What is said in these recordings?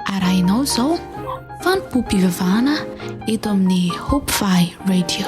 Arahinao izao fanompoam-pivavahana eto amin'ny Hope Valley Radio.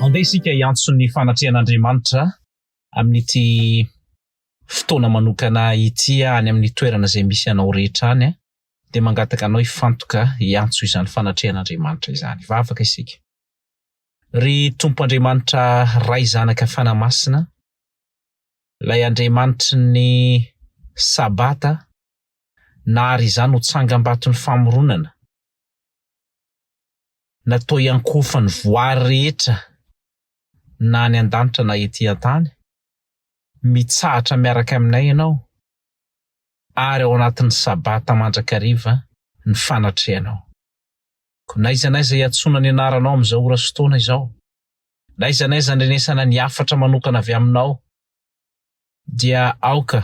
Handeha isika hiantso ny fanatrehan'Andriamanitra amin'ity fotoana manokana ity any amin'ny toerana izay misy anao rehetra any a! Dia mangataka anao hifantoka hiantso izany fanatrehan'Andriamanitra izany. Hivavaka isika. Ry Tompo Andriamanitra Ray Zanaka Fanahy Masina, Ilay Andriamanitry ny Sabata, na àry izany ho tsangam-baton'ny famoronana, na toa iankohofan'ny voary rehetra na any an-danitra na etỳ an-tany, mitsahatra miaraka aminay ianao, ary ao anatin'ny Sabata mandrakariva ny fanatrehanao. Koa n'aiza n'aiza iantsoana ny anaranao amin'izao ora sy fotoana izao, N'aiza n'aiza andrenesana ny hafatra manokana avy aminao, dia aoka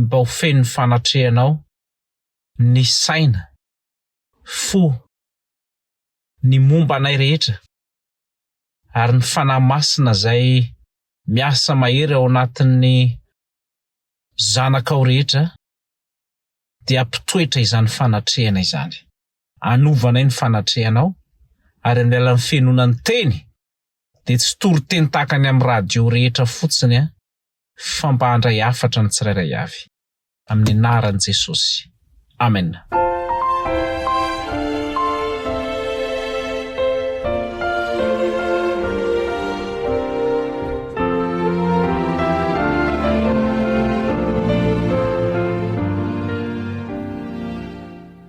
mba ho fenon'ny fanatrehanao ny saina, fo, ny momba anay rehetra, ary ny Fanahy Masina izay miasa mahery ao anatin'ny zanakao rehetra dia ampitoetra izany fanatrehana izany. Anovanay ny fanatrehanao, ary amin'ny alalan'ny fihenoana ny Teny, dia tsy toriteny tahaka ny amin'ny radio rehetra fotsiny an, fa mba handray hafatra ny tsirairay avy. Amin'ny anaran'i Jesosy. Amena.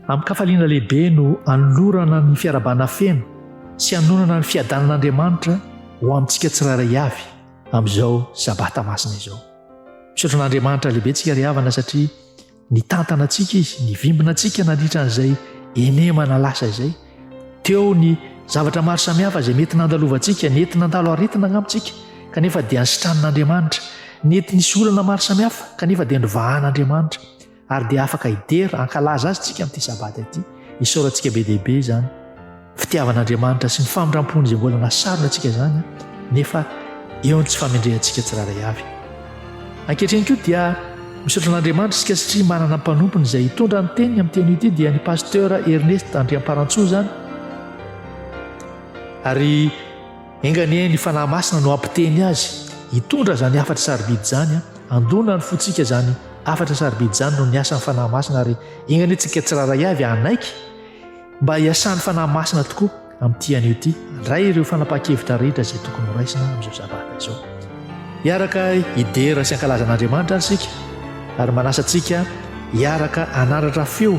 Amin-kafaliana lehibe no anolorana ny fiarahabana feno sy hanonana ny fiadanan'Andriamanitra ho amintsika tsirairay avy amin'izao Sabata masina izao. Misaotra an'Andriamanitra lehibe antsika ry havana satria nitantana antsika Izy, nivimbina antsika nandritra an'izay henemana lasa izay. Teo ny zavatra maro samihafa izay mety nandalovantsika, nety nandalo aretina angamba tsika kanefa dia nisitranin'Andriamanitra, nety nisy olana maro samihafa kanefa dia novahan'Andriamanitra. ary dia afaka hidera hankalaza azy tsika amin'ity sabata ity isaorantsika be dia be izany fitiavan'andriamanitra sy ny famindram-pony izay mbola nasarona antsika izany nefa eo ny tsy famendrehantsika tsiraray avy ankehitriny koa dia misaotra an'andriamanitra isika satria manana mpanompony izay hitondra ny teniny amin'ny teny ity dia ny pasteur ernest andriamparantsoo izany ary Enga anie ny Fanahy Masina no hampiteny azy hitondra izany hafatra sarobidy izany a! Handona ny fontsika izany hafatra sarobidy izany noho ny asan'ny Fanahy Masina ary enga anie tsika tsirairay avy hanaiky mba hiasan'ny Fanahy Masina tokoa amin'ity anio ity handray ireo fanapahan-kevitra rehetra izay tokony horaisina amin'izao sabata izao. Hiaraka hidera sy hankalaza an'Andriamanitra ary isika ary manasa antsika hiaraka hanandratra feo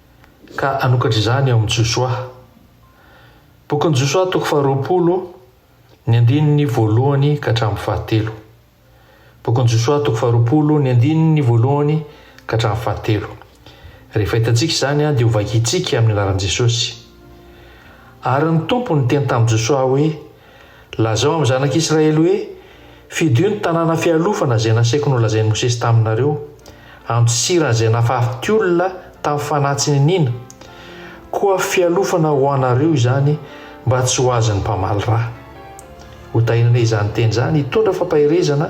ka hanokatra izany ao amin'ny Josoa. Bokin'i Josoa toko faharoapolo, ny andininy voalohany ka hatramin'ny fahatelo. Bokin'i Josoa toko faharoapolo, ny andininy voalohany ka hatramin'ny fahatelo. Rehefa hitantsika izany dia hovakintsika amin'ny anaran'i Jesosy. Ary ny Tompo niteny tamin'i Josoa hoe, Lazao amin'ny zanak'Israely hoe, 'Fidio ny tanàna fialofana izay nasaiko nolazain'i Mosesy taminareo. Andosiro an'izay nafarity olona tamin'ny fanahy tsy niniana. Koa fialofana ho anareo izany mba tsy ho azon'ny mpamaly ra. Ho tahinanay izany teny izany hitondra fampaherezana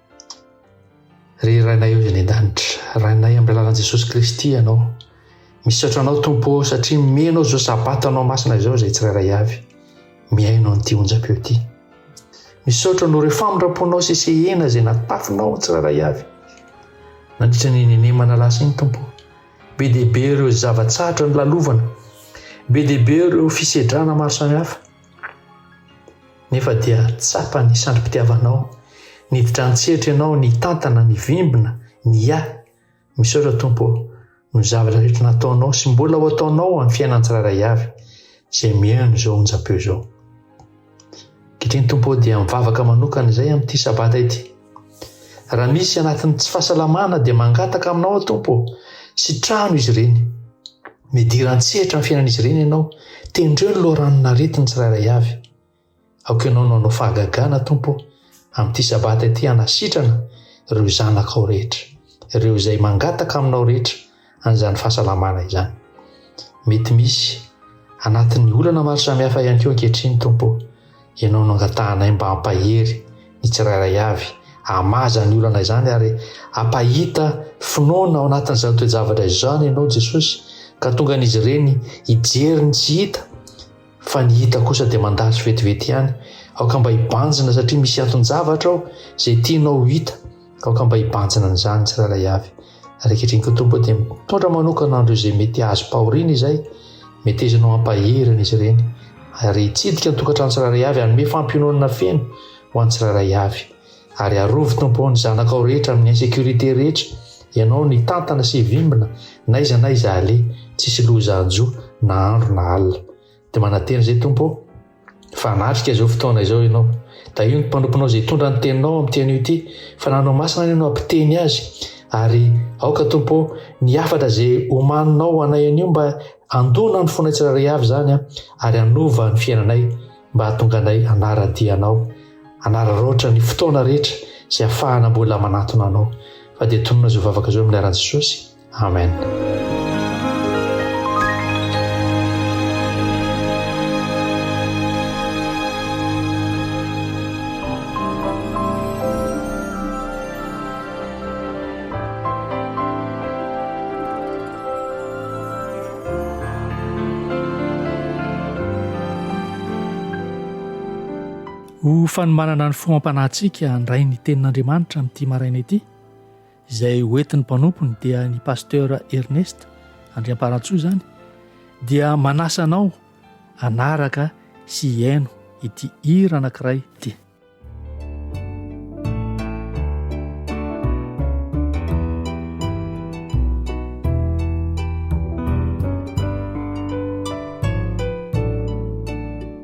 Ry Rainay avy any an-danitra, Rainay amin'ny alalan'i Jesosy Kristy ianao. Misaotra anao Tompo ô satria mihaino izao sabata anao masina izao izay tsirairay avy mihaino an'ity onjam-peo ity. Misaotra noho ireo famindram-ponao sy sehena izay natafinao ny tsirairay avy. Nandritra ny nenemana lasa iny Tompo, be dia be ireo zava-tsahatra nolalovana, be dia be ireo fisedrana maro samihafa. Nefa dia tsapan'ny sandrim-pitiavanao, niditra an-tsehatra ianao nitantana ny vimbina, ny ahy. Misaotra Tompo ô, noho ny zavatra rehetra nataonao sy mbola ho ataonao amin'ny fiainan'ny tsirairay avy izay mihaino izao onjam-peo izao. Ankehitriny Tompo ô dia mivavaka manokana izay amin'ity sabata ity. Raha misy anatin'ny tsy fahasalamana dia mangataka aminao aho Tompo ô, sitraho izy ireny. Midira an-tsehatra amin'ny fiainan'izy ireny ianao. Tendreo ny loharanon'aretin'ny tsirairay avy. Aoka ianao no hanao fahagagana, Tompo ô, amin'ity Sabata ity hanasitrana ireo zanakao rehetra, ireo izay mangataka aminao rehetra an'izany fahasalamana izany. Mety misy anatin'ny olana maro samihafa ihany koa ankehitriny, Tompo ô. Ianao no angatahanay mba hampahery ny tsirairay avy hamaha izany olana izany ary hampahita finoana ao anatin'izany toe-javatra izany Ianao Jesosy ka tonga an'izy ireny hijery ny tsy hita fa ny hita kosa dia mandalo vetivety ihany. Aoka mba hibanjina satria misy anton-javatra ao izay tianao ho hita. Aoka mba hibanjina an'izany ny tsirairay avy, ary ankehitriny koa, Tompo ô, dia mitondra manokana an'ireo izay mety hazom-pahoriana Izay, metezana ho ampaherina izy ireny, ary hitsidika ny tokantrano tsirairay avy, hanome fampiononana feno ho an'ny tsirairay avy. Ary arovy, Tompo ô, ny zanakao rehetra amin'ny insécurité rehetra, Ianao no hitantana sy hivimbina n'aiza n'aiza aleha, tsisy loza hanjo, na andro na alina. Dia manantena izay Tompo ô, fa hanatrika izao fotoana izao Ianao. Tahio ny mpanomponao izay hitondra ny teninao amin'ity anio ity, fa nanao masina anio no hampiteny azy, ary aoka Tompo ô, ny hafatra izay omaninao ho anay anio mba handona ny fonay tsirairay avy izany, ary hanova ny fiainanay mba hahatonga anay hanara-dia Anao, hanararaotra ny fotoana rehetra izay hahafahana mbola manantona Anao. Fa dia tonona izao vavaka izao amin'ny anaran'i Jesosy. Amen. Ho fanombanana ny fo am-panahintsika handray ny Tenin'Andriamanitra amin'ity maraina ity, izay ho entin'ny mpanompony dia ny pasteur Ernest Andriamparantsoa izany dia manasa anao anaraka sy hihaino ity hira anankiray ity.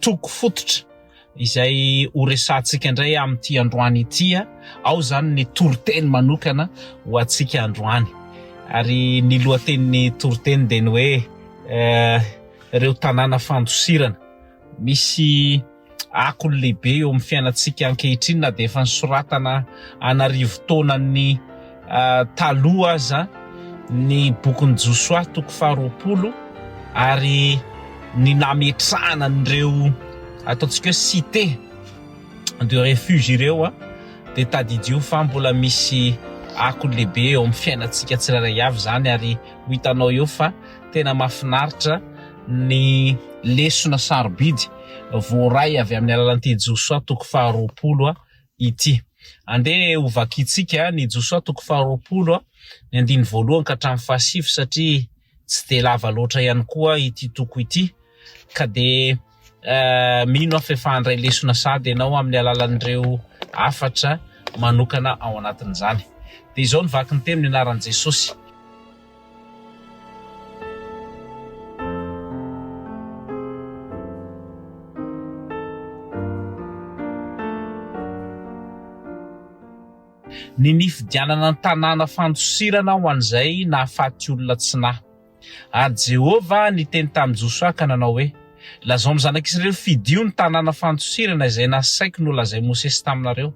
toko fototra izay ho resahantsika indray amin'ity androany ity. Ao izany ny toriteny manokana ho antsika androany. Ary ny lohatenin'ny toriteny dia ny hoe eh, ireo tanàna fandosirana. Misy akony lehibe eo amin'ny fiainantsika ankehitriny na dia efa nisoratana an'arivo taonan'ny taloha aza ny bokin'i Josoa toko faharoapolo ary ny nametrahana an'ireo ataontsika hoe cité de refuge ireo dia tadidio fa mbola misy akony lehibe eo amin'ny fiainantsika tsirairay avy izany ary ho hitanao eo fa tena mahafinaritra ny lesona sarobidy voaray avy amin'ny alalan'ity Josoa toko faharoapolo ity. Andeha ho vakintsika ny Josoa toko faharoapolo, ny andiny voalohany ka hatramin'ny fahasivy satria tsy dia lava loatra ihany koa ity toko ity. Ka dia eh, mino aho fa efa handray lesona sahady ianao amin'ny alalan'ireo hafatra manokana ao anatin'izany. Dia izao ny vakin'ny teny ny anaran'i Jesosy. Ny nifidianana ny tanàna fandosirana ho an'izay nahafaty olona tsy nahy. Ary Jehovah niteny tamin'i Josoa ka nanao hoe, Lazao amin'ny zanak'Israely fidio ny tanàna fandosirana izay nasaiko nolazain'i Mosesy taminareo.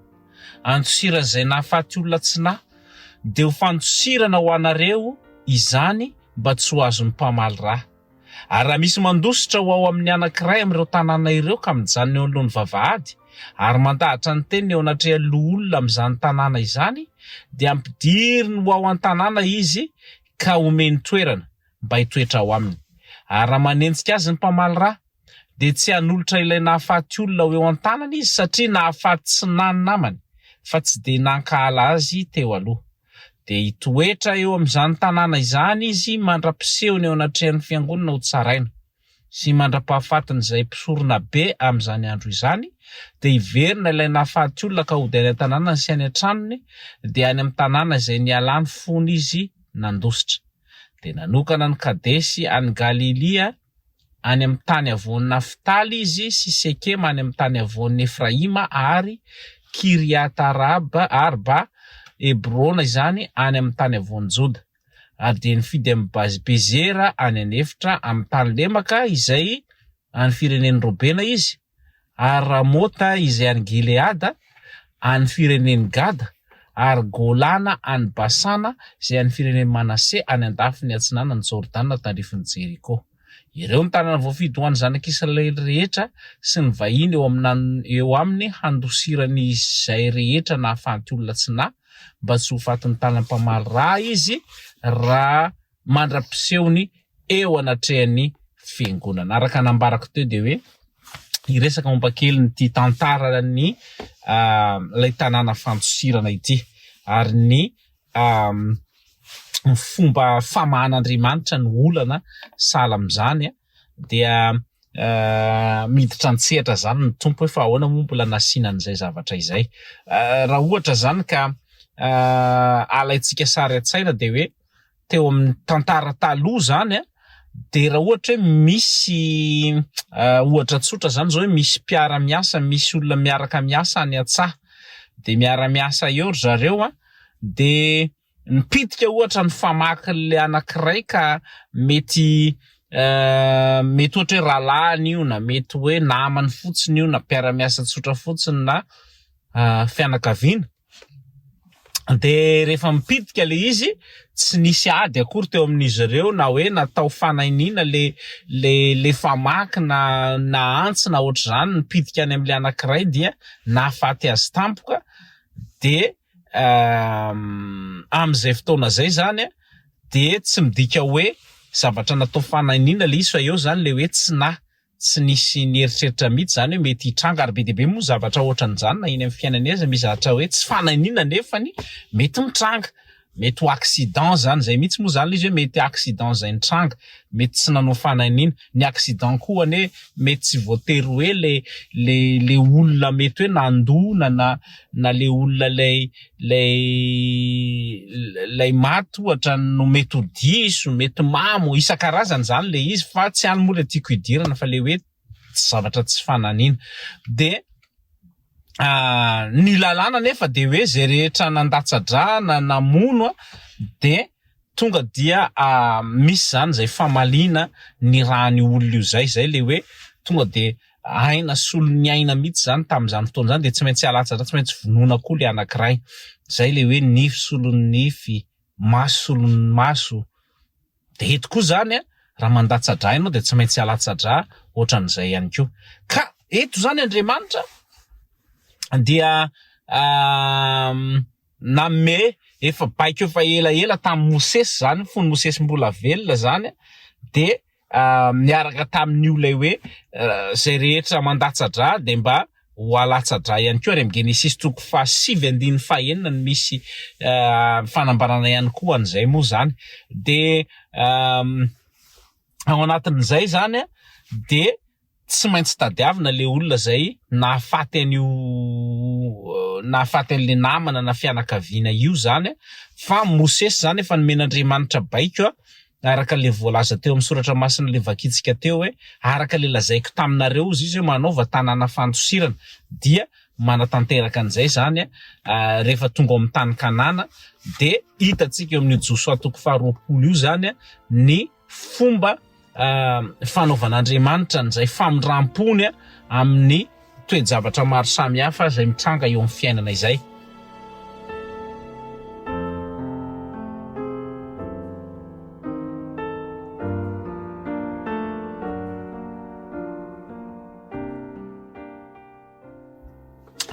andosiran'izay nahafaty olona tsy nahy, dia ho fandosirana ho anareo izany mba tsy ho azon'ny mpamaly ra. Ary raha misy mandositra ho ao amin'ny anankiray amin'ireo tanàna ireo ka mijanona eo anoloan'ny vavahady, ary mandahatra ny teniny eo anatrehan'ny loholona amin'izany tanàna izany, dia ampidiriny ho ao an-tanàna izy ka omeny toerana mba hitoetra ao aminy. Ary raha manenjika azy ny mpamaly ra, dia tsy hanolotra ilay nahafaty olona ho eo an-tanany izy satria nahafaty tsy na ny namany fa tsy dia nankahala azy teo aloha. Dia hitoetra eo amin'izany tanàna izany izy mandra-pisehony eo anatrehan'ny fiangonana ho tsaraina, sy mandra-pahafatin'izay mpisorona be amin'izany andro izany, dia hiverina ilay nahafaty olona ka hody any an-tanànany sy any an-tranony, dia any amin'ny tanàna izay nialany fony izy nandositra. Dia nanokana an'i Kadesy any Galilia. any amin'ny tany havoan'i Naftaly izy, sy Sekema any amin'ny tany havoan'i Efraima, ary Kiriata-arba, Hebrona izany, any amin'ny tany havoan'i Joda. Ary dia nifidy an'i Bezera any an'efitra amin'ny tany lemaka izay an'ny firenen'i Robena izy, ary Ramota izay any Gileada, any firenen'i Gada, ary Golana any Basana izay any firenen'i Manase any an-dafiny atsinanan'i Jordana tandrifin'i Jeriko. Ireo no tanàna voafidy ho an'ny zanak'Israely rehetra sy ny vahiny eo amin'ny eo aminy handosirany izay rehetra nahafaty olona tsy nahy mba tsy ho fatin'ny tanam-pamaly raha izy raha mandra-pisehony eo anatrehan'ny fiangonana. Araka nambarako teo dia hoe hiresaka momba kely nyity tantaran'ny ah, ilay tanàna fandosirana ity ary ny ny fomba famahan'Andriamanitra ny olana sahala amin'izany dia eh, miditra an-tsehatra zany ny tompo hoe fa ahoana moa mbola nasiana an'izay zavatra izay eh, raha ohatra zany ka eh, alaintsika sary an-tsaina dia hoe teo amin'ny tantara taloha izany an, dia raha ohatra hoe misy ohatra tsotra izany izao hoe misy mpiara miasa misy olona miaraka miasa any an-tsaha dia miara miasa eo ry zareo an, dia mipitika ohatra ny famaky ilay anankiray ka mety mety ohatra hoe rahalahiny io na mety hoe namany fotsiny io na mpiara miasa tsotra fotsiny na fianakaviana. dia rehefa mipitika ilay izy tsy nisy ady akory teo amin'izy ireo na hoe natao fanahiniana ilay ilay ilay famaky na na antsy na ohatr'izany nipitika any amin'ilay anankiray dia nahafaty azy tampoka dia amin'izay fotoana izay izany dia tsy midika hoe zavatra natao fanahiniana ilay izy fa eo izany ilay hoe tsy nahy tsy nisy nieritreritra mihitsy izany hoe mety hitranga ary be dia be moa ny zavatra ohatran'izany na eny amin'ny fiainana eza misy zavatra hoe tsy fananina nefany mety mitranga mety ho accident izany izay mihitsy moa izany ilay izy hoe mety accident izay nitranga mety tsy nanao fananina ny accident koa anie mety tsy voatery hoe le le le olona mety hoe nandona na na le olona ilay ilay ilay maty ohatra no mety ho diso, mety mamo, isan-karazany izany ilay izy fa tsy any moa ilay tiako hidirana fa ilay hoe tsy zavatra tsy fananina dia ny lalàna anefa dia hoe izay rehetra nandatsa-drà na namono dia Tonga dia misy izany izay famaliana ny ran'io olona io izay, izay ilay hoe tonga dia aina solon'ny aina mihitsy izany tamin'izany fotoana izany dia tsy maintsy halatsatra, tsy maintsy vonoina koa ilay anankiray, izay ilay hoe nify solon'ny nify, maso solon'ny maso, dia eto koa izany raha mandatsa-drà ianao dia tsy maintsy halatsa-drà ohatran'izay ihany koa. Ka eto izany Andriamanitra dia. Nanome efa baiko efa ela ela tamin'i Mosesy izany, fony Mosesy mbola velona izany dia niaraka tamin'io ilay hoe izay rehetra mandatsa-dra dia mba ho alatsa-dra ihany koa, ary amin'ny Genesisy toko fahasivy andininy fahenina no misy fanambarana ihany koa an'izay moa izany. Dia ao anatin'izay izany dia. tsy maintsy tadiavina le olona zay nahafaty an'io nahafaty an'le namana na fianakaviana io zany a, fa Mosesy zany efa nomen'Andriamanitra baiko araka le voalaza teo amin'ny soratra masina le vakintsika teo hoe araka le lazaiko taminareo ozy izy hoe manaova tanàna fandosirana dia manatanteraka an'izay zany a rehefa tonga ao amin'ny tany Kanana dia hitantsika eo amin'io Josoa toko faharoapolo io zany a ny fomba fanaovan'Andriamanitra an'izay famindram-pony amin'ny toe-javatra maro samihafa izay mitranga eo amin'ny fiainana izay.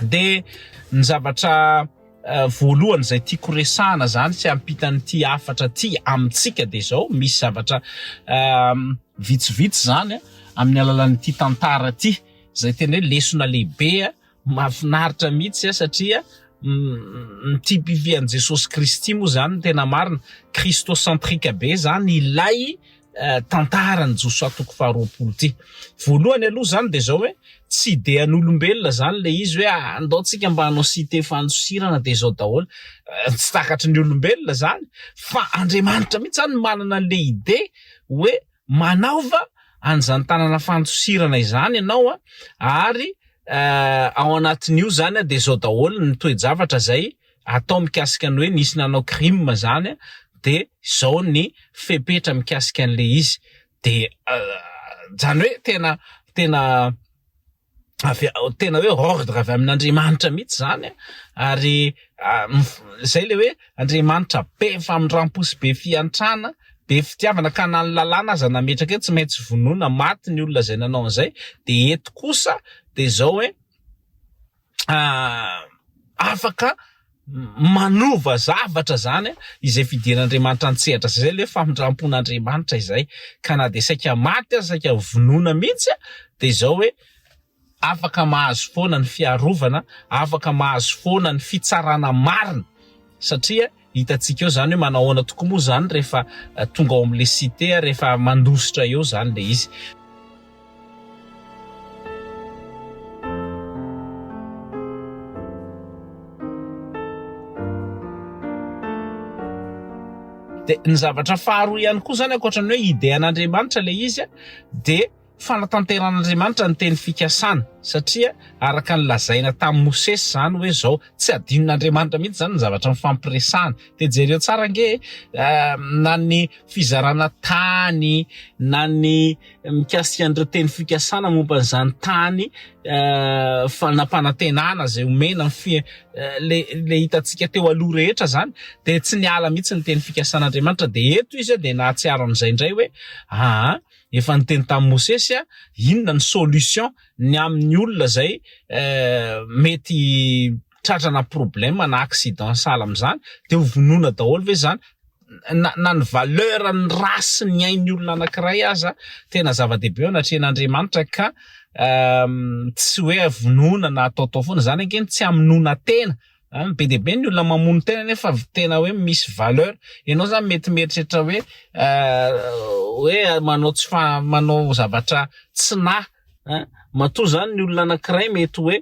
Dia ny zavatra Voalohany izay tiako resahana izany tsy ampitan'ity hafatra ity amintsika dia izao, misy zavatra vitsivitsy izany amin'ny alalan'ity tantara ity izay tena hoe lesona lehibe mahafinaritra mihitsy satria ny typifie an'i Jesosy Kristy moa izany ny tena marina, christocentrique be izany ilay tantaran'i Josoa toko faharoapolo ity. Voalohany aloha zany de zao hoe tsy idean'olombelona zany le izy hoe ah, andao tsika mba hanao site fanosirana de zao daholo. Eh, tsy takatry ny olombelona zany fa Andriamanitra mihitsy zany manana le ide hoe manaova an'izany tanana fanosirana izany ianao a, ah, ary eh, ao anatin'io zany a de zao daholo ny toe-javatra zay atao mikasika ny hoe nisy nanao crime zany de zao ny fepetra mikasika an'le izy de zany hoe tena tena avy tena hoe ordre avy amin'Andriamanitra mihitsy zany ary zay le hoe Andriamanitra be famindrampo sy be fiantrana be fitiavana ka na ny lalàna aza nametraka eto tsy maintsy vonoina maty ny olona zay nanao an'izay de eto kosa de zao hoe afaka manova zavatra izany izay fidiran'Andriamanitra an-tsehatra izay. Izay ilay famindrampon'Andriamanitra izay. Ka na dia saika maty aza, saika vonoina mihitsy, dia izao hoe afaka mahazo foana ny fiarovana, afaka mahazo foana ny fitsarana marina, satria Hitantsika eo zany hoe manao ahoana tokoa moa zany rehefa tonga ao amin'le site, rehefa mandositra eo zany le izy. Dia ny zavatra faharoa ihany koa zany ankoatra ny hoe idean'Andriamanitra le izy dia. Fanatanteran'Andriamanitra ny teny fikasana satria araka ny lazaina tamin'i Mosesy izany hoe izao, tsy adinon'Andriamanitra mihitsy izany ny zavatra nifampiresahana. Dia jereo tsara ange e, na ny fizarana tany, na ny mikasika an'ireo teny fikasana momba an'izany tany fanampanantenana izay homena ny fi, ilay hitantsika teo aloha rehetra izany dia tsy niala mihitsy ny teny fikasan'Andriamanitra. Dia eto izy dia nahatsiaro an'izay indray hoe aa. efa niteny tamin'i Mosesy a, inona ny solution ny amin'ny olona izay mety tratrana problème na accident sahala amin'izany dia ho vonoina daholo ve izany? na, na ny valeur ny ra sy ny ainy olona anankiray aza tena zava-dehibe eo anatrehan'Andriamanitra ka tsy hoe vonoina na ataotao foana, izany ange no tsy hamonoana tena An, be dia be ny olona mamono tena nefa tena hoe misy valeur. Ianao zany mety mieritreritra hoe hoe manao tsy fa manao zavatra tsy nahy an, matoa zany ny olona anankiray mety hoe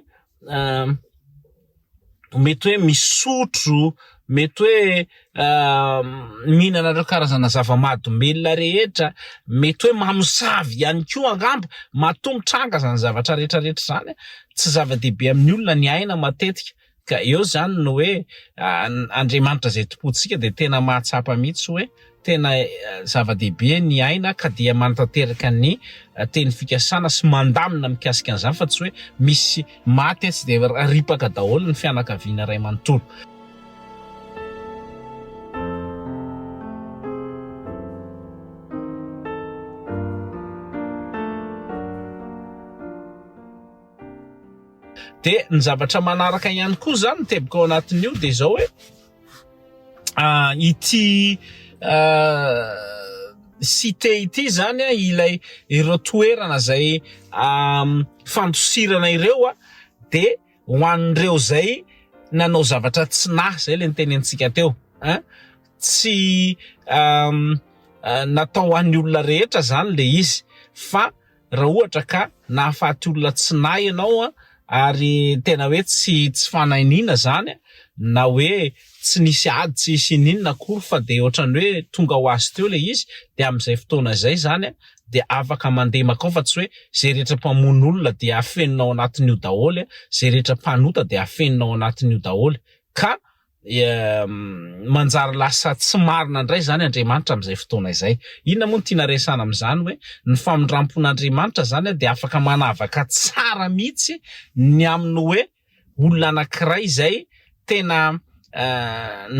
mety hoe misotro, mety hoe. mihinana ireo karazana zava-mahadomelina rehetra, mety hoe mamosavy ihany koa angamba, matoa mitranga izany zavatra rehetra rehetra izany, tsy zava-dehibe amin'ny olona ny aina matetika, ka eo izany no hoe Andriamanitra izay Tompontsika dia tena mahatsapa mihitsy hoe tena zava-dehibe ny aina ka dia manatanteraka ny teny fikasana sy mandamina mikasika an'izany fa tsy hoe misy maty etsy dia ripaka daholo ny fianakaviana iray manontolo. dia ny zavatra manaraka ihany koa zany tebika ao anatin'io dia izao hoe ah, ity site ah, ity zany a ah, ilay ireo toerana zay fandosirana ireo a dia Ho an'ireo izay nanao zavatra tsy nahy, izay ilay nitenenintsika teo, hein, tsy natao ho an'ny olona rehetra izany ilay izy fa raha ohatra ka nahafaty olona tsy nahy ianao ary tena hoe tsy tsy fanahy niana izany na hoe tsy nisy ady tsy nisy ininona akory fa dia ohatrany hoe tonga ho azy teo ilay izy dia amin'izay fotoana izay izany dia afaka mandeha makao fa tsy hoe izay rehetra mpamono olona dia afenina ao anatin'io daholo izay rehetra mpanota dia afenina ao anatin'io daholo ka manjary lasa tsy marina indray izany Andriamanitra amin'izay fotoana izay inona moa no tiana resana amin'izany hoe ny famindrampon'Andriamanitra izany dia afaka manavaka tsara mihitsy ny amin'ny hoe olona anankiray izay tena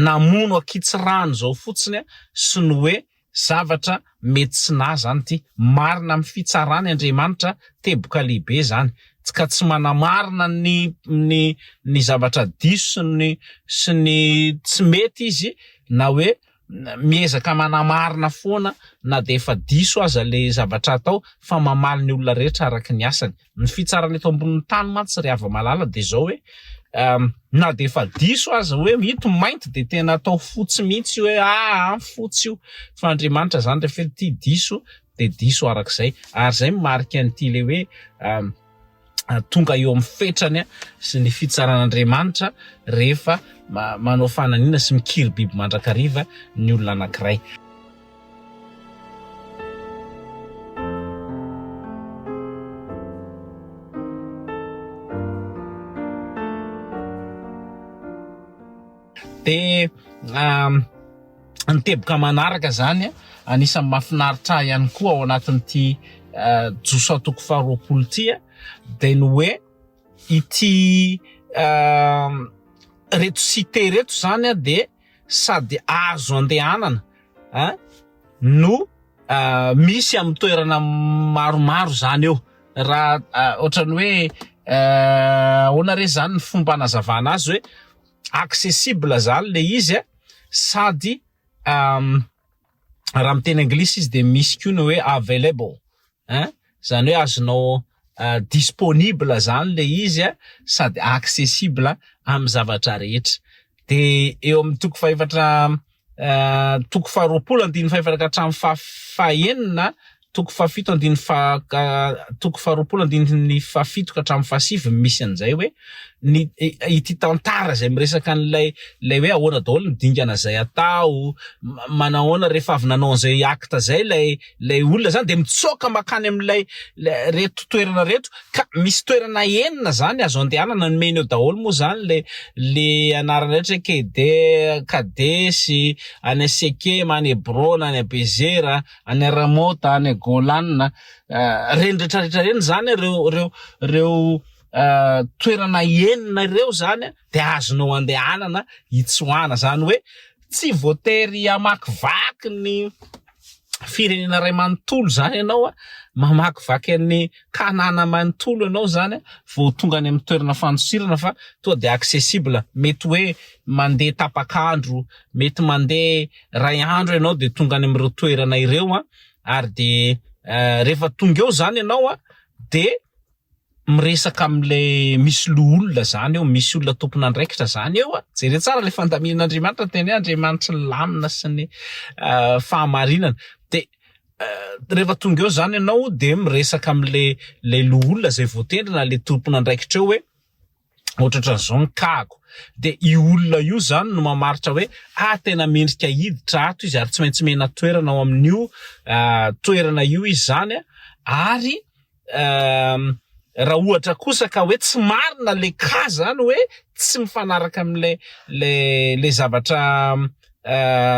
namono ankitsirano izao fotsiny sy ny hoe zavatra mety tsy nahy izany ity. Marina amin'ny fitsarany Andriamanitra, teboka lehibe izany, ka tsy manamarina ny ny ny zavatra diso sy ny sy ny tsy mety izy na hoe miezaka manamarina foana na dia efa diso aza ilay zavatra atao fa mamaly ny olona rehetra araka ny asany. Ny fitsarana eto ambonin'ny tany mantsy ry hava-malala dia izao hoe na dia efa diso aza hoe ito mainty dia tena atao fotsy mihitsy hoe aa fotsy io fa Andriamanitra izany rehefa hoe ity diso dia diso araka izay ary izay mimarika an'ity ilay hoe tonga eo amin'ny fetrany sy ny fitsaran'Andriamanitra rehefa manao fananiana sy mikiribiby mandrakariva ny olona anankiray. Dia ny teboka manaraka izany an, anisan'ny mahafinaritra ahy ihany koa ao anatin'ity Josa toko faharoapolo ity an, dia ny hoe ity ireto site ireto izany an dia sady azo andehanana an no misy amin'ny toerana maromaro izany eo, raha ohatran'ny hoe ahoana re izany ny fomba hanazavana azy hoe. accessible zany le izy a, sady raha miteny anglisy izy de misy koa ny hoe available ein zany hoe azonao disponible zany le izy a sady accessible am zavatra rehetra de eo am toko fahefatra toko faharoapolo andininy fahefaraka hatramin'ny fa fahenina toko fahafito andininy fa toko faharoapolo andininy fahafito ka hatramin'ny fahasivy misy an'izay hoe ny ity tantara izay miresaka an'ilay ilay hoe ahoana daholo ny dingana izay atao manahoana rehefa avy nanao an'izay acte izay ilay Ilay olona izany dia mitsoaka mankany amin'ilay reto toerana reto ka misy toerana enina izany azo andehanana, nomeny eo daholo moa izany ilay ilay anarana rehetra hoe Kedera, Kadesy, any Sekema, any Hebrona, any Abezera, any Ramota, any Golana, ireny rehetra rehetra ireny izany ireo ireo ireo toerana enina ireo izany. dia azonao andehanana hitsoahana. Izany hoe tsy voatery hamakivaky ny firenena iray manontolo izany ianao, mamakivaky an'i Kanana manontolo ianao izany vao tonga any amin'ny toerana fandosirana fa tonga dia accessible. Mety hoe mandeha tapak'andro, mety mandeha iray andro ianao dia tonga any amin'ireo toerana ireo ary dia rehefa tonga eo izany ianao dia. miresaka amle misy loholona zany eo misy olona tompon'andraikitra zany eo a jere tsara le fandaminan'Andriamanitra ny teny hoe Andriamanitry ny lamina sy ny fahamarinana de rehefa tonga eo zany ianao de miresaka amle le loholona zay voatendrina le tompon'andraikitra eo hoe Otratran'izao ny kago. Dia io olona io izany no mamaritra hoe ah tena mendrika hiditra ato izy ary tsy maintsy mena toerana ao amin'io toerana io izy izany an! Ary raha ohatra kosa ka hoe tsy marina ilay cas izany hoe tsy mifanaraka amin'ilay ilay ilay zavatra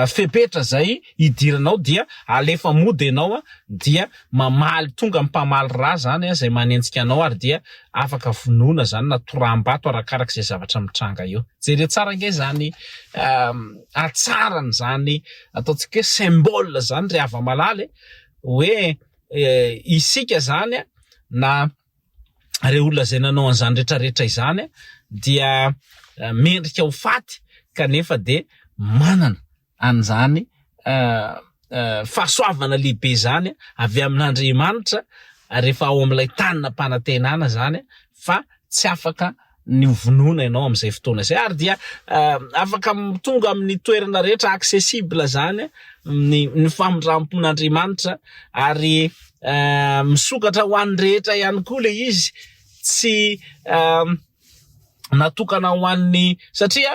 fepetra zay idiranao dia alefa mody enao dia mamaly tonga mpamaly ra zany a zay manenjika anao ary dia afaka vonoina zany na toraham-bato arakaraka zay zavatra mitranga eo jere tsara nge zany atsaran zany ataontsika hoe symbole zany ry hava malala e hoe isika zany a na ireo olona izay nanao an'izany retraretra izany dia mendrika ho faty kanefa dia manana an'izany fahasoavana lehibe izany avy amin'Andriamanitra rehefa ao amin'ilay tany nampanantenana izany fa tsy afaka ny hovonoina ianao amin'izay fotoana izay ary dia afaka tonga amin'ny toerana rehetra accessible izany ny ny famindram-pon'Andriamanitra ary misokatra ho an'ny rehetra ihany koa le izy tsy natokana ho an'ny satria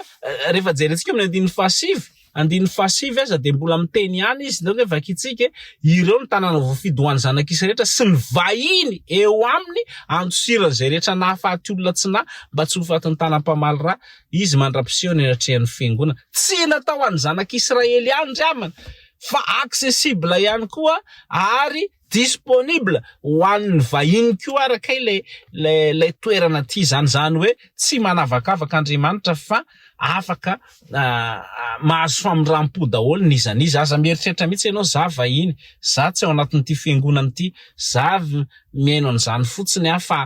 rehefa jerentsika amin'ny andininy fahasivy andininy fahasivy aza dia mbola miteny ihany izy, Nareo ve vakintsika e, ireo no tanàna voafidy ho an'ny zanak'isa rehetra sy ny vahiny eo aminy, andosiran'izay rehetra nahafaty olona tsy nahy, mba tsy ho fatin'ny tanam-pamaly ra izy mandra-pisehoany eny an-trehan'ny fiangonana. Tsy natao ho an'ny zanak'Israely ihany ry havana fa accessible ihany koa ary disponible ho an'ny vahiny koa araka ilay ilay ilay toerana aty izany, izany hoe tsy manavakavaka Andriamanitra fa afaka mahazo famindram-po daholo n'iza n'iza, aza mieritreritra mihitsy ianao za vahiny, za tsy ao anatin'ity fiangonana ity, za mihaino an'izany fotsiny aho fa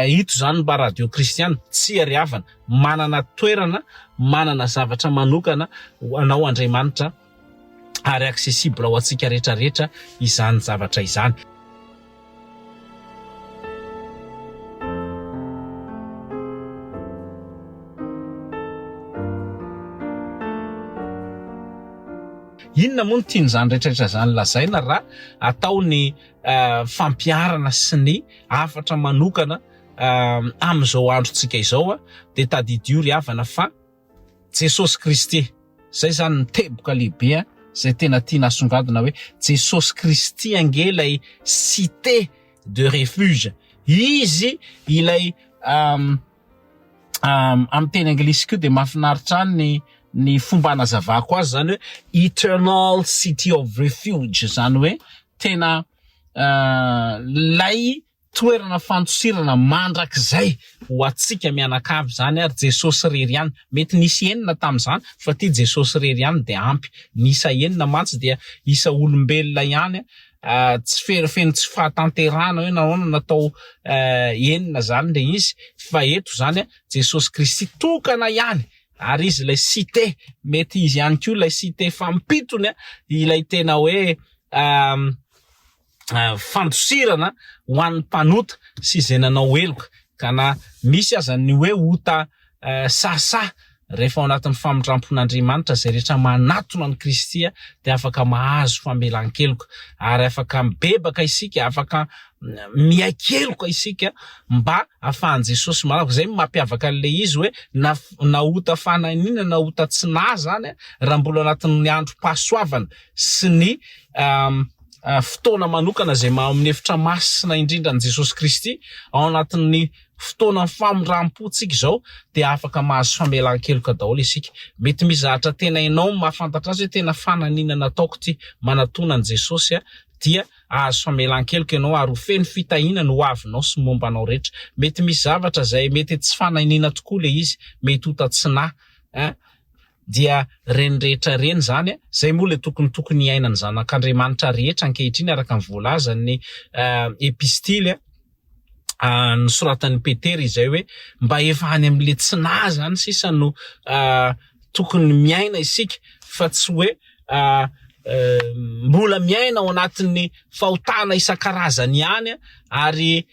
ito izany ny mba radio kristiana, tsy ery havana, manana toerana, manana zavatra manokana ho anao Andriamanitra. ary accessible ho antsika rehetra rehetra izany zavatra izany. Inona moa no tian'izany rehetra rehetra izany lazaina raha atao ny eh, fampiarana sy ny hafatra manokana eh, amin'izao androntsika izao, dia tadidio ry havana fa Jesosy Kristy, zay zany ny teboka lehibe an, zay tena tiana asongadina hoe Jesosy Kristy ange ilay cité de refuge, Izy ilay amin'ny teny anglisy koa dia mahafinaritra ahy ny ny fomba anazavako azy zany hoe eternal city of refuge zany hoe tena lay Toerana fandosirana mandrakizay ho antsika mianakavy izany ary Jesosy irery ihany. Mety nisy enina tamin'izany fa ity Jesosy irery ihany dia ampy. Ny isa enina mantsy dia isa olombelona ihany tsy feno feno tsy fahatanterahana hoe nahoana natao enina izany ilay izy fa eto izany Jesosy Kristy tokana ihany ary izy ilay site mety izy ihany koa ilay site fampitony ilay tena hoe fandosirana ho an'ny mpanota sy izay nanao heloka, ka na misy aza ny hoe ota sahasaha, rehefa ao anatin'ny famindram-pon'Andriamanitra izay rehetra manatona an'i Kristy dia afaka mahazo famelan-keloka, ary afaka mibebaka isika, afaka miaiky-heloka isika mba hahafahan'i Jesosy manavaka. Izay no mampiavaka an'ilay izy hoe na na ota fananina na ota tsy naha zany, raha mbola anatin'ny androm-pahasoavana sy ny fotoana manokana izay maha amin'ny efitra masina indrindra an'i Jesosy Kristy, ao anatin'ny fotoanan'ny famindram-pontsika izao dia afaka mahazo famelan-keloka daholo isika. Mety misy zavatra tena enao no mahafantatra azy hoe tena fananina nataoko ity manatona an'i Jesosy aho dia ahazo famelan-keloka ianao ary ho feno fitahiana ny ho avinao sy ny momba anao rehetra. Mety misy zavatra izay mety tsy fananina tokoa ilay izy, mety ho tatsinà, eh, dia reny rehetra reny izany a, izay moa ilay tokony tokony hiainan'ny zanak'Andriamanitra rehetra ankehitriny araka ny voalazan'ny epistily a, nosoratan'i Petera izay hoe mba efa any amin'ilay tsy nahy izany sisa no tokony miaina isika fa tsy hoe mbola miaina ao anatin'ny fahotana isan-karazany ihany ary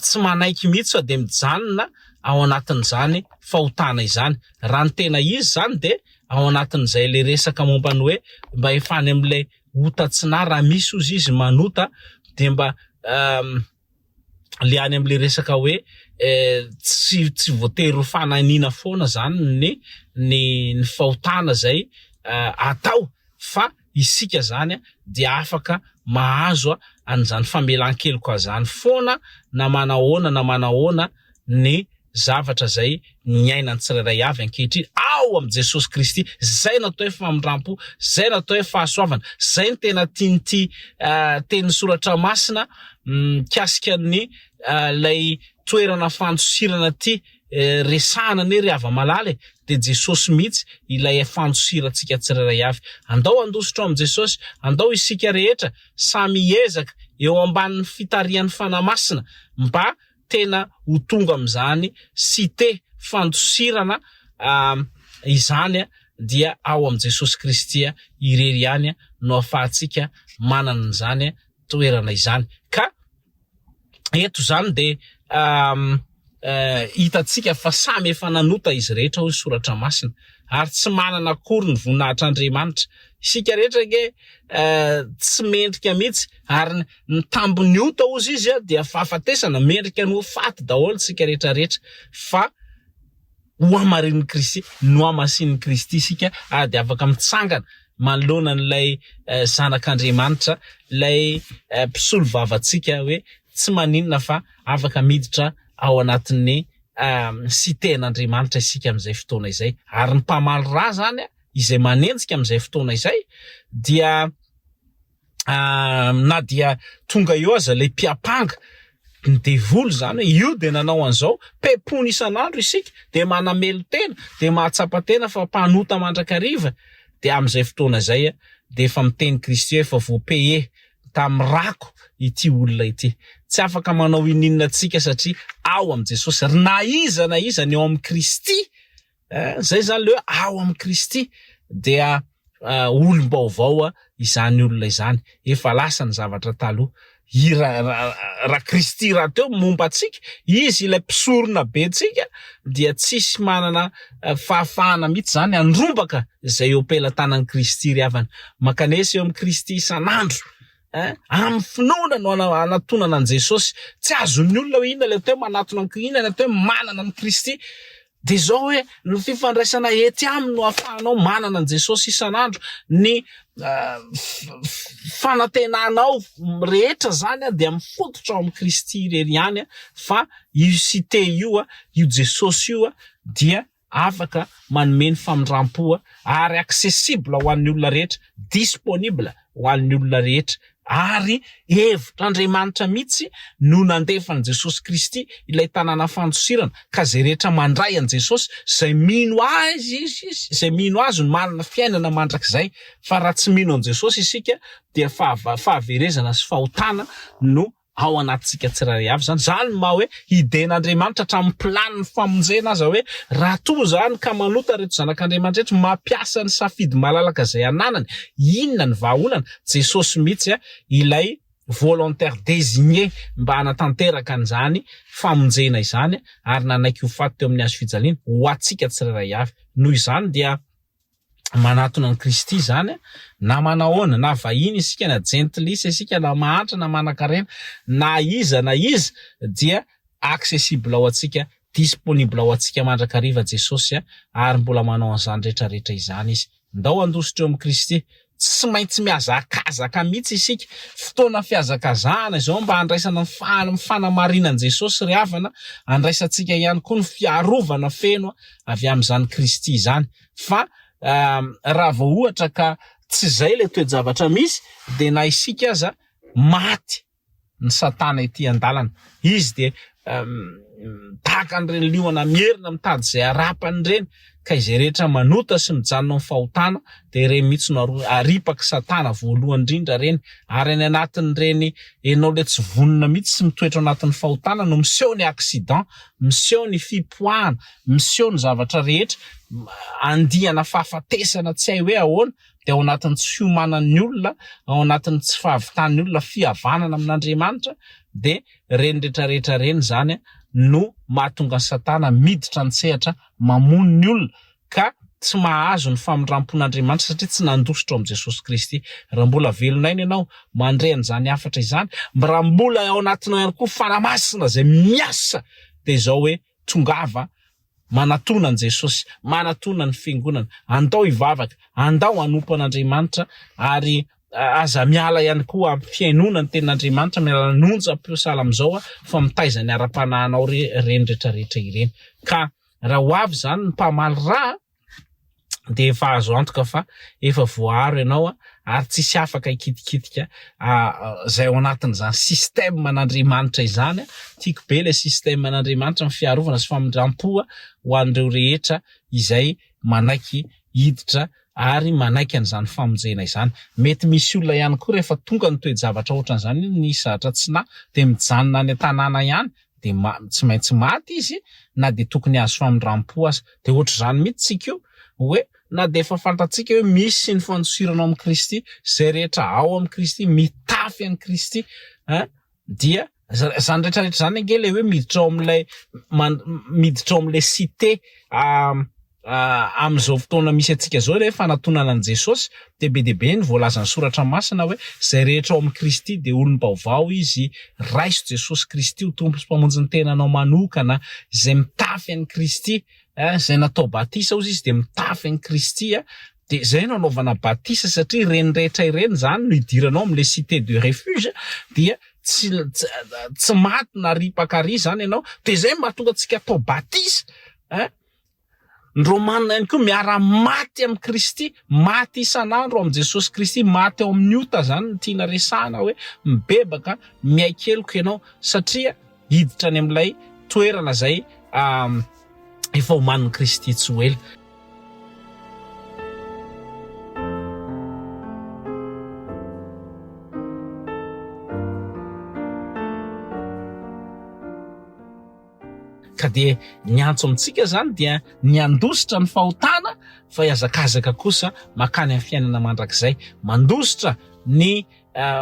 tsy manaiky mihitsy sao dia mijanona ao anatin'izany fahotana izany. Raha ny tena izy izany dia ao anatin'izay ilay resaka momba ny hoe mba efa any amin'ilay ota tsy na raha misy ozy izy manota dia mba le any amin'ilay resaka hoe eh, tsy tsy voatery ho fananiana foana zany ny ny ny fahotana zay eh, atao fa isika zany dia afaka mahazo an'izany famelan-keloka zany foana na manahoana na manahoana ny zavatra zay niainan'ny tsirairay avy ankehitriny ao amin'i Jesosy Kristy, zay no atao hoe famindrampo, zay no atao hoe fahasoavana, zay no tena tian'ity tenin'ny soratra masina mikasika ny lay toerana fandosirana ty resahana anie ry hava-malala e! dia Jesosy mihitsy ilay fandosirantsika tsirairay avy. Andao handositra ao amin'i Jesosy, andao isika rehetra samy hiezaka eo ambanin'ny fitarihan'ny Fanahy Masina mba tena ho tonga amin'izany site fandosirana izany dia ao amin'i Jesosy Kristy irery ihany no ahafahantsika manana an'izany toerana izany ka eto izany dia hitantsika fa samy efa nanota izy rehetra hoy ny soratra masina ary tsy manana akory ny voninahitr'Andriamanitra. Isika rehetra ange tsy mendrika mihitsy ary ny tambin'ny ota hozy izy dia fahafatesana, mendrika ny ho faty daholo isika rehetra rehetra fa hohamarinin'i Kristy, nohamasinin'i Kristy isika ary dia afaka mitsangana manoloana an'ilay Zanak'Andriamanitra, ilay mpisolo vavantsika hoe tsy maninona fa afaka miditra ao anatin'ny sitehin'Andriamanitra isika amin'izay fotoana izay. Ary ny mpamaly ra izany izay manenjika amin'izay fotoana izay dia na dia tonga eo aza ilay mpiampanga, ny devoly izany, io dia nanao an'izao, pepony isan'andro isika, dia manamelo-tena, dia mahatsapa-tena fa mpanota mandrakariva, dia amin'izay fotoana izay dia efa miteny Kristy hoe efa voa-paye tamin'ny rako ity olona ity. Tsy afaka manao ininona antsika satria ao amin'i Jesosy, ary na iza na iza ny ao amin'i Kristy Izay izany ilay hoe ao amin'i Kristy dia olom-baovao izany olona izany, efa lasa ny zavatra taloha. Raha Kristy rahateo momba antsika, Izy ilay Mpisoronabentsika, dia tsisy manana fahafahana mihitsy izany handrombaka izay eo am-pelatanan'i Kristy ry havana. Mankanesa eo amin'i Kristy isan'andro. Amin'ny finoana no anatonana an'i Jesosy. Tsy azon'ny olona hoe inona ilay atao hoe manatona an'i Kristy, inona ilay atao hoe manana an'i Kristy. Dia izao hoe, ny fifandraisana ety aminy no ahafahanao manana an'i Jesosy isan'andro. Ny fanantenanao rehetra izany dia mifototra ao amin'i Kristy irery ihany, fa io Site io, io Jesosy io dia afaka manome ny famindram-po ary accessible ho an'ny olona rehetra, disponible. ho an'ny olona rehetra, ary hevitr'Andriamanitra mihitsy no nandefan'i Jesosy Kristy ilay tanàna fandosirana, ka izay rehetra mandray an'i Jesosy, izay mino Azy, izay mino Azy no manana fiainana mandrakizay, fa raha tsy mino an'i Jesosy isika dia fahaverezana sy fahotana no ao anatintsika tsirairay avy izany. Izany no maha hoe hiden'Andriamanitra hatramin'ny planin'ny famonjena aza hoe raha toa izany ka manota ireto zanak'Andriamanitra ireto mampiasa ny safidy malalaka izay ananany, inona ny vahaolana? Jesosy mihitsy ilay volontaire désigné mba hanatanteraka an'izany famonjena izany ary nanaiky ho faty teo amin'ny hazo fijaliana ho antsika tsirairay avy. Noho izany dia. manatona an'i Kristy izany, na manahoana, na vahiny isika, na jentilisa isika, na mahantra, na manankarena, na iza na iza, dia accessible ho antsika, disponible ho antsika mandrakariva Jesosy, ary mbola manao an'izany rehetra rehetra izany Izy. Ndao handositra eo amin'i Kristy. Tsy maintsy mihazakazaka mihitsy isika. Fotoana fihazakazahana izao mba handraisana ny fa-ny fanamarinan'i Jesosy ry havana, handraisantsika ihany koa ny fiarovana feno avy amin'izany Kristy izany. fa raha vao ohatra ka tsy izay ilay toe-javatra misy dia na isika aza maty ny satana ety an-dalana izy dia tahaka an'ireny liona mierina mitady izay harapany ireny ka izay rehetra manota sy mijanona amin'ny fahotana dia ireny mihitsy no aripaky satana voalohany indrindra ireny ary any anatin'ireny ianao ilay tsy vonona mihitsy sy mitoetra anatin'ny fahotana no miseho ny accident miseho ny fipoahana miseho ny zavatra rehetra, andiana fahafatesana tsy hay hoe ahoana, dia ao anatin'ny tsy fiomanan'ny olona, ao anatin'ny tsy fahavitan'ny olona fihavanana amin'Andriamanitra, dia ireny retraretra ireny izany no mahatonga an'i Satana miditra an-tsehatra mamono ny olona ka tsy mahazo ny famindrampon'Andriamanitra satria tsy nandositra ao amin'i Jesosy Kristy. Raha mbola velon'aina ianao mandre an'izany hafatra izany, raha mbola ao anatinao ihany koa Fanahy Masina izay miasa dia izao hoe, Tongava manatona an'i Jesosy, manatona ny Fiangonana, andao hivavaka, andao hanompo an'Andriamanitra ary aza miala ihany koa amin'ny fihainoana ny tenin'Andriamanitra, miala ny onjam-peo sahala amin'izao fa mitaiza ny ara-panahinao ireny rehetra rehetra ireny. Ka raha ho avy izany ny mpamaly rà, dia efa azo antoka fa efa voaaro ianao ary tsy hisy afaka hikitikitika izay ao anatin'izany système an'Andriamanitra izany. Tiako be ilay système an'Andriamanitra ny fiarovana sy famindram-po ho an'ireo rehetra izay manaiky hiditra ary manaiky an'izany famonjena izany. Mety misy olona ihany koa rehefa tonga ny toe-javatra ohatran'izany ny zatra tsy nahy dia mijanona any an-tanàna ihany dia ma tsy maintsy maty izy na dia tokony azo famindram-po aza. Dia hoatr'izany mihitsy tsika io hoe na dia efa fantatsika hoe misy ny fandosirana ao amin'i Kristy, izay rehetra ao amin'i Kristy, mitafy an'i Kristy, hein, dia izany rehetrarehetra izany ange ilay hoe miditra ao amin'ilay man, miditra ao amin'ilay cité, ah, Amin'izao fotoana misy antsika izao, ilay hoe fanatonana an'i Jesosy, dia be dia be ny voalazan'ny Soratra Masina hoe izay rehetra ao amin'i Kristy dia olom-baovao izy, raiso Jesosy Kristy ho Tompo sy Mpamonjin'ny tenanao manokana, izay mitafy an'i Kristy, izay natao batisa hozy izy dia mitafy an'i Kristy, dia izay no anaovana batisa satria ireny rehetra ireny izany no idiranao amin'ilay cité de refuge dia tsy tsy maty na ripaka àry izany ianao, dia izay no mahatonga antsika atao batisa. Ny Romanina ihany koa miara maty amin'i Kristy, maty isan'andro amin'i Jesosy Kristy, maty ao amin'ny ota zany ny tiana resahana hoe mibebaka miaiky heloka ianao satria hiditra any amin'ilay toerana izay efa omanin'i Kristy tsy ho ela. Ka dia ny antso amintsika izany dia ny handositra ny fahotana fa hiazakazaka kosa mankany amin'ny fiainana mandrakizay. Mandositra ny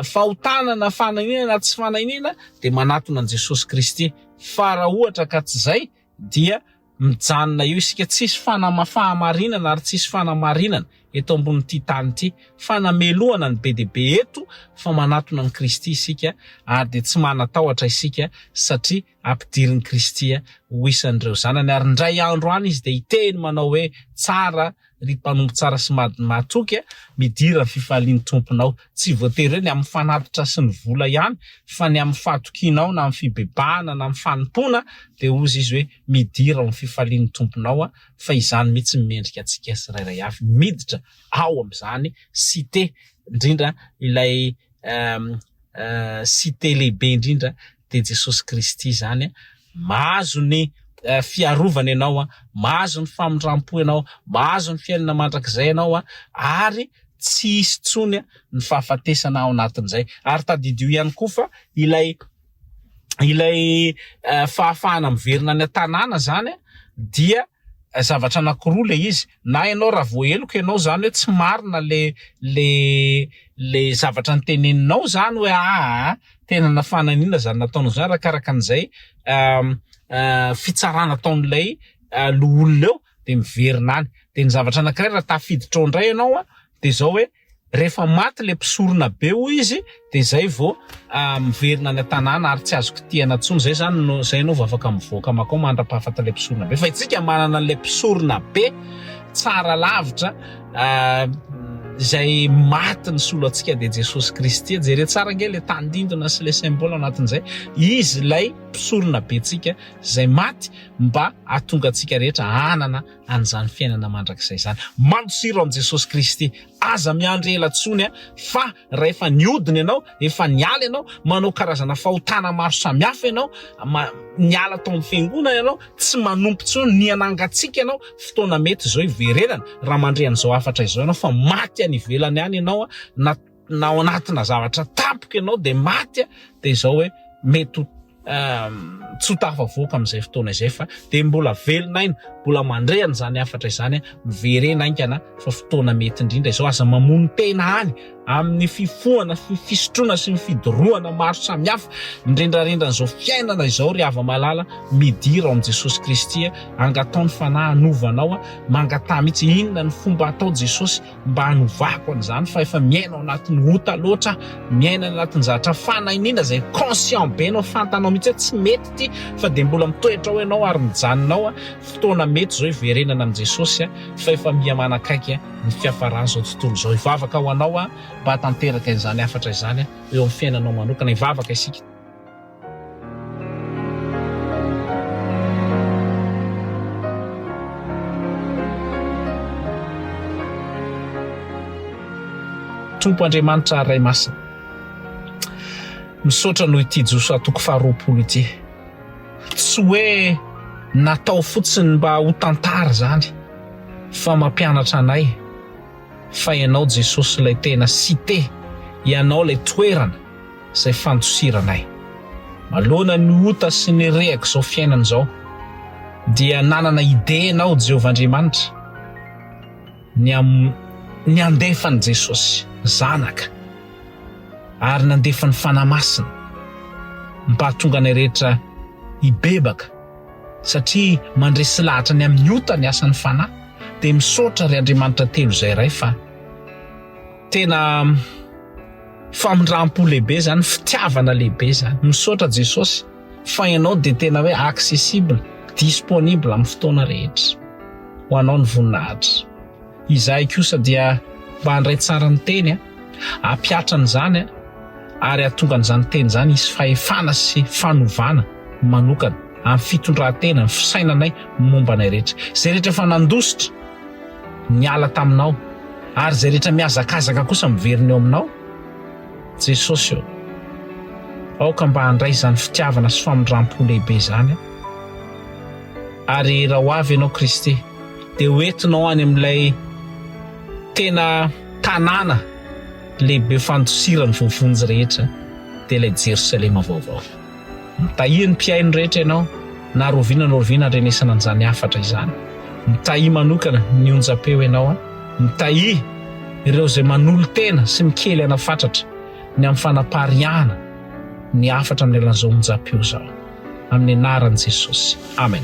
fahotana na fanahiniana na tsy fanahiniana dia manatona an'i Jesosy Kristy fa raha ohatra ka tsy izay dia mijanona eo isika tsisy fanamafahamarinana ary tsisy fanamarinana eto ambonin'ity tany ity fa namelohana ny be dia be eto fa manatona an'i Kristy isika ary dia tsy manatahotra isika satria Ampidirin'i Kristy ho isan'ireo zanany, ary indray andro any izy dia hiteny manao hoe, Tsara, ry mpanompo tsara sy mahatoky, midira ny fifalian'ny tomponao. Tsy voatery hoe ny amin'ny fanatitra sy ny vola ihany, fa ny amin'ny fahatokianao na amin'ny fibebahana na amin'ny fanompoana, dia hozy izy hoe, Midira ao amin'ny fifalian'ny tomponao, fa izany mihitsy no mendrika antsika tsirairay avy miditra ao amin'izany, cite indrindra ilay. site lehibe indrindra dia Jesosy Kristy izany, mahazo ny fiarovana ianao, mahazo ny famindrampo ianao, mahazo ny fiainana mandrakizay ianao ary tsy hisy intsony ny fahafatesana ao anatin'izay. Ary tadidio ihany koa fa ilay ilay fahafahana miverina any an-tanàna izany dia zavatra anankiroa ilay izy, na ianao raha voaheloka ianao izany hoe tsy marina ilay ilay ilay zavatra noteneninao izany hoe aa tena nafananiana izany nataonao izany arakaraka an'izay fitsarana ataon'ilay loholona eo. de miverina any de ny zavatra anakiray raha tafiditra ao indray ianao a de zao hoe rehefa maty le mpisorona be hoy izy de zay vao ah, miverina any an-tanàna ary tsy azo kitihana tsony zay zany no zay anao vao afaka mivoaka makao mandra-pahafata le mpisorona be fa itsika manana le mpisorona be tsara lavitra ah, izay maty ny solo antsika dia Jesosy Kristy e. jere tsara ange le tandindona sy le symbole anatin'izay izy ilay mpisorona be tsika izay maty mba hahatonga antsika rehetra hanana an'izany fiainana mandrakizay izany. Mandosiro amin'i Jesosy Kristy. Aza miandry ela intsony fa rahefa niodina ianao, efa niala ianao, manao karazana fahotana maro samihafa ianao, niala tao amin'ny fiangonana ianao, tsy manompo intsony, nihanangatsiaka ianao, fotoana mety izao hiverenana raha mandre an'izao hafatra izao ianao fa maty any ivelany any ianao na na ao anatina zavatra tampoka ianao dia maty a, dia izao hoe mety ho tsy ho tafavoaka amin'izay fotoana izay fa dia mbola velona aina, mbola mandre an'izany hafatra izany, miverena haingana fa fotoana mety indrindra izao, aza mamono tena any amin'ny fifohana, fisotroana sy ny fidorohana maro samihafa, ny rendran'izao fiainana izao ry hava-malala, midira ao amin'i Jesosy Kristy, angataho ny Fanahy hanova anao, mangataha mihitsy inona ny fomba atao Jesosy, mba hanovako an'izany fa efa miaina ao anatin'ny ota loatra, miaina any anatin'ny zatra fanahiniana izay conscient be anao, fantanao mihitsy hoe tsy mety ity fa dia mbola mitoetra ao ianao ary mijanona ao, fotoana mety izao hiverenana amin'i Jesosy fa efa miha manakaiky ny fiafaran'izao tontolo izao, hivavaka ho anao aho mba hahatanteraka izany hafatra izany eo amin'ny fiainanao manokana, hivavaka isika. Tompo Andriamanitra ary Ray Masina. Misaotra noho ity Josoa toko faharoapolo ity. Tsy hoe natao fotsiny mba ho tantara izany fa mampianatra anay fa Ianao Jesosy ilay tena site, Ianao ilay toerana izay fandosiranay. Manoloana ny ota sy ny rehak'izao fiainana izao, dia nanana idée ianao, Jehovah Andriamanitra, ny amin'ny nandefan'i Jesosy Zanaka ary nandefa ny Fanahy Masina mba hahatonga anay rehetra hibebaka, satria mandresy lahatra ny amin'ny ota ny asan'ny Fanahy. Dia misaotra, ry Andriamanitra Telo Izay Iray, fa tena. Famindrampo lehibe zany, fitiavana lehibe zany. Misaotra Jesosy fa ianao dia tena hoe accessible, disponible amin'ny fotoana rehetra ho anao ny voninahitra. Izahay kosa dia mba handray tsara ny teny, hampihatra an'izany ary hahatonga an'izany teny izany hisy fahefana sy fanovana manokana amin'ny fitondran-tena, ny fisainanay momba anay rehetra. Izay rehetra efa nandositra. niala taminao, ary izay rehetra mihazakazaka kosa miverina eo aminao. Jesosy ô, aoka mba handray izany fitiavana sy famindram-po lehibe izany aho. Ary raha ho avy Ianao Kristy, dia ho entinao any amin'ilay tena tanàna lehibe fandosiran'ny voavonjy rehetra, dia ilay Jerosalema vaovao. Mitahiry ny mpihaino rehetra ianao na rovina na rovina andrenesana an'izany hafatra izany. Mitahiry manokana ny onjam-peo ianao. Mitahiry ireo izay manolo-tena sy mikely aina fatratra ny amin'ny fanapariahana ny hafatra amin'ny alalan'izao onjam-peo izao. Amin'ny anaran'i Jesosy. Amen.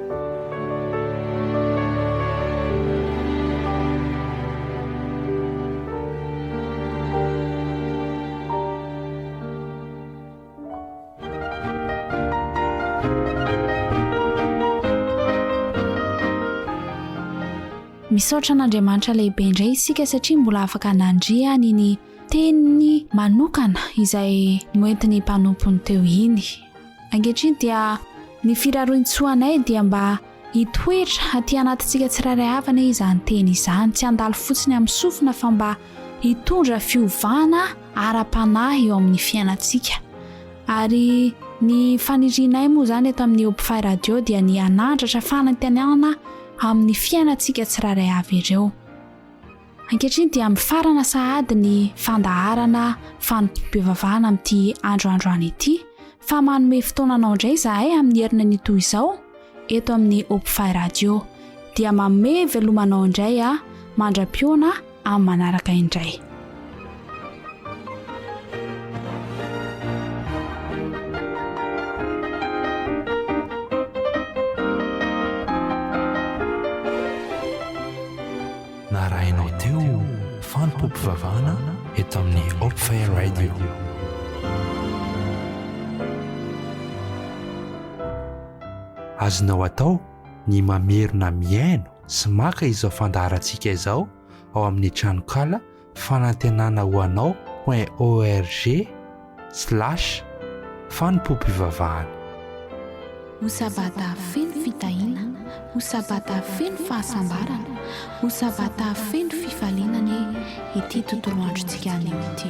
Misaotra an'Andriamanitra lehibe indray isika satria mbola afaka nandria ny ny teniny manokana izay noentiny mpanompony teo iny. Ankehitriny dia ny firaroin-tsoa anay dia mba hitoetra aty anatintsika tsirairay avy anie izany teny izany, tsy handalo fotsiny amin'ny sofina fa mba hitondra fiovana ara-panahy eo amin'ny fiainantsika. Ary ny fanirianay moa izany eto amin'ny Obfy Radio dia ny hanandratra fanantenana amin'ny fiainantsika tsirairay avy ireo. Ankehitriny dia mifarana sahady ny fandaharana fanompoam-pivavahana amin'ity andro androany ity fa manome fotoana anao indray izahay amin'ny herinan'io toy izao eto amin'ny Hopify Radio dia manome veloma anao indray a mandra-piona amin'ny manaraka indray. Narahinao teo fanompoam-pivavahana eto amin'ny Hope Fire Radio. Azonao atao ny mamerina mihaino sy maka izao fandaharantsika izao ao amin'ny tranonkala Fanantenana ho anao point org slash fanompoam-pivavahana. Ho Sabata feno fitahiana, ho Sabata feno fahasambarana, ho Sabata feno fifaliana anie ity tontolo androntsika anio ity.